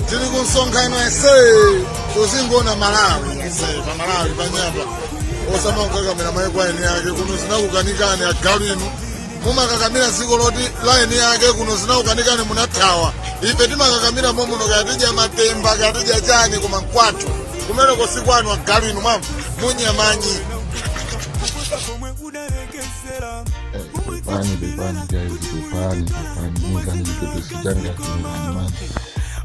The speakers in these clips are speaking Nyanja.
tili ku msonkhano tonse tizingoona malawi tonse pa malawi panyanja osamakakakamira maiko a eni ake kuno zinakukanikani agalu inu mumakakamira dziko loti la eni ake kuno zinakukanikani munathawa ife timakakamira momuno kaya tidya matemba kaya tidya chani koma mkwathu kumeneko sikwanu agalu inu mwamva munyamanyi pepani pepani guys pepani pepani mungani zikotosijanga tingamani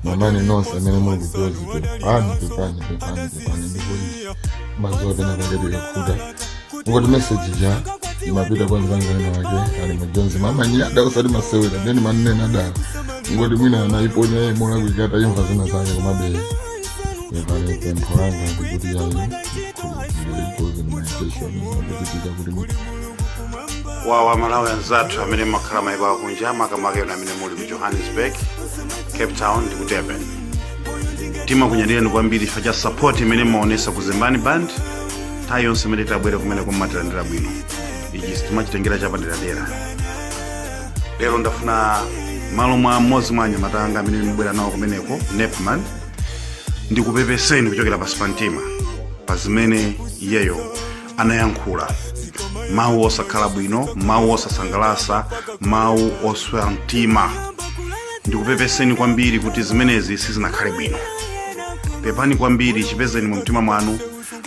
mamani nonse amene muli ku Jozi pepani pepani pepani pepani ndikudziwa pena panachitika kuti ngoti meseji ja imapita kwa mzanga winawake ali majonzi mamanyi ada usati masewera ndeni manene adala ngoti mwina anaiponya iye molakwika imva zina zake komabe pepani pempho langa ndi kuti yayi wawa malawi anzathu amene mmakhala maiko akunja makamaka ena amene muli ku johannesburg cape town ndi ku durban timakunyadirani kwambiri chifukwa cha support imene mmaonesa ku zembani band nthawi yonse imene tabwera kumeneko mmatilandira bwino ichi timachitengera chapaderadera lero ndafuna malo mwa mmodzi mwa anyamata anga amene ndimabwera nawo kumeneko nepman ndikupepeseni kuchokera pansi pa mtima pa zimene iyeyo anayankhula mawu osakhala bwino mawu osasangalasa mawu oswa mtima ndikupepeseni kwambiri kuti zimenezi sizinakhale bwino pepani kwambiri chipezeni mu mtima mwanu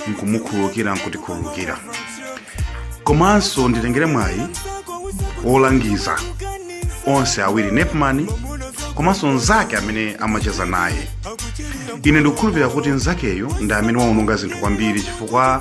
nkumukhululukira nkutikhululukira komanso nditengere mwayi wolangiza onse awiri nepman komanso nzake amene amacheza naye ine ndikukhulupirira kuti nzakeyo ndi amene waononga zinthu kwambiri chifukwa